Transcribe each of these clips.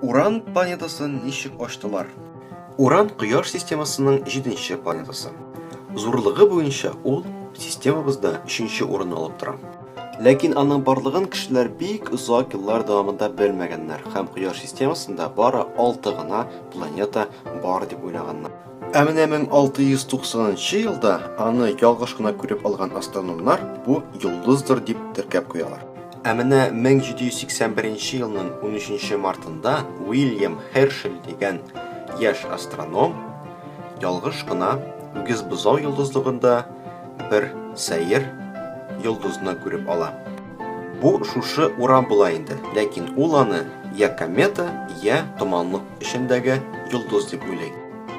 Уран планетасын ничек ачтылар? Уран Кояш системасының җиденче планетасы. Зурлыгы буенча ул системабызда өченче урынны алып тора. Ләкин аның барлыгын кешеләр бик озак еллар дәвамында белмәгәннәр һәм Кояш системасында бары алты гына планета бар дип уйлаганнар. Ә менә 1690 елда аны ялгыш кына күреп алган астрономнар бу йолдыздыр дип теркәп куялар. Ә менә 1781 елның 13 мартында Уильям Хершель дигән яшь астроном ялгыш кына Үгезбозау йолдызлыгында бер сәер йолдызны күреп ала. Бу шушы урам була инде, ләкин ул аны я комета, я томанлык эчендәге йолдыз дип уйлый.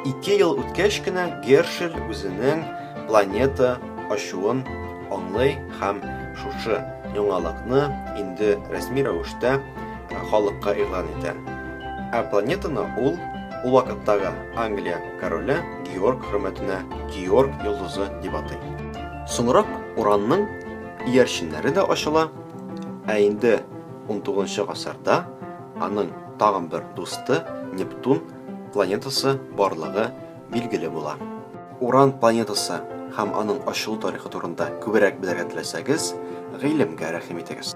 Ике ел үткәч кенә Гершель үзенең планета ачуын аңлый һәм шушы яңалыкны инде рәсми рәвештә халыкка игълан итә. Ә планетаны ул ул вакыттагы Англия короле Георг хөрмәтенә Георг йолдызы дип атый. Соңрак уранның иярченнәре дә ачыла, ә инде 19 гасырда аның тагын бер дусты Нептун планетасы барлыгы билгеле була. Уран планетасы һәм аның ачылу тарихы турында күбрәк белергә теләсәгез, гыйлемгә рәхим итегез.